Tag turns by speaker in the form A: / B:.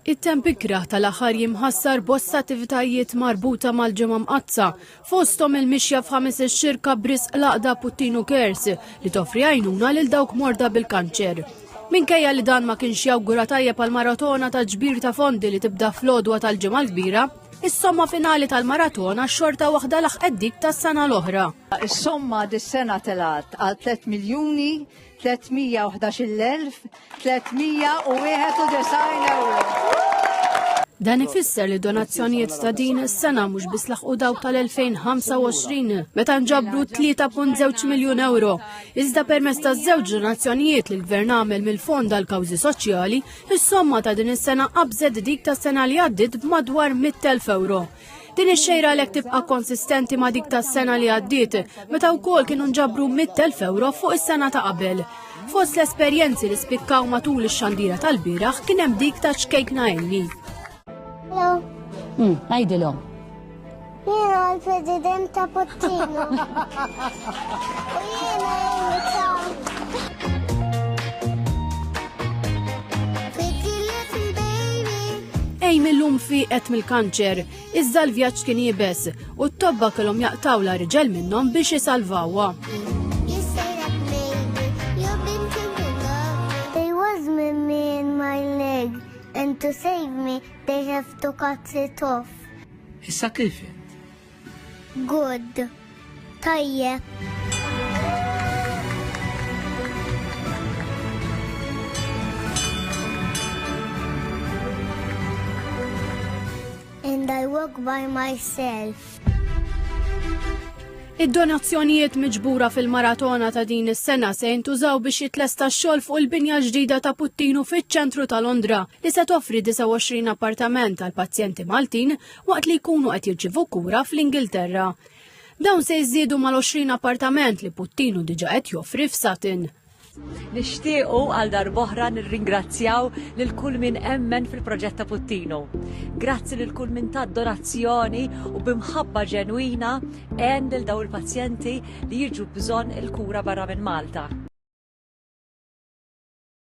A: It-temp ikrah tal-aħħar jiem ħassar bosta attivitajiet marbuta mal-Ġimgħa Mqaddsa, fosthom il-mixja f'ħames ix-xirka b'risq l-għaqda Puttinu Cares li toffri għajnuna lil dawk morda bil-kanċer. Minkejja li dan ma kienx jawgura tajjeb għal maratona ta' ġbir ta' fondi li tibda fl-għodwa tal-Ġimgħa l-Kbira, Is-somma finali tal-maratona xorta waħda laħqet dik tas-sena l-oħra. Is-somma
B: dis-sena telgħet għal tliet miljuni 311,391 euro.
A: Dan ifisser li donazzjonijiet ta' din is-sena mhux biss laħqu dawk tal-2025 meta nġabru 3.2 miljun euro, iżda permezz ta' żewġ donazzjonijiet li l-Gvern għamel mill-Fond għal Kawżi Soċjali, is-somma ta' din is-sena qabżet dik tas-sena li għaddiet b'madwar 100,000 euro. Din ix-xejra għalhekk tibqa' konsistenti ma' dik tas-sena li għaddiet, meta wkoll kienu nġabru 100,000 ewro fuq is-sena ta' qabel. Fost l-esperjenzi li spikkaw matul ix-xandira tal-bieraħ kien hemm dik ta' ċkejkna Elli. Hmm,
C: għajdilhom.
D: Jiena l-President ta' Puttino.
A: Amy millum fiqet mill-kanċer, iżda l-vjaġġ kien jibes u t-tobba kellhom jaqtawla riġel minnhom biex isalvawha.
D: and to save me, they have to cut it off. Issa kif?
E: Good.
D: Tajjeb. And I walk by myself.
A: Id-donazzjonijiet miġbura fil-maratona ta' din is-sena se jintużaw biex jitlesta x-xogħol fuq il-binja ġdida ta' Puttinu fiċ-ċentru ta' Londra li se toffri 29 appartament għal pazjenti Maltin waqt li jkunu qed jirċivu kura fl-Ingilterra. Dawn se jżiedu mal-20 appartament li Puttinu diġa qed joffri f'Satin. Nixtiequ
F: għal darboħra nirringrazzjaw lil kull min emmen fil-proġett ta' Puttinu. Grazzi lil kull min ta' donazzjoni u bimħabba ġenwina għen lil daw il-pazjenti li jiġu bżonn il-kura barra minn Malta.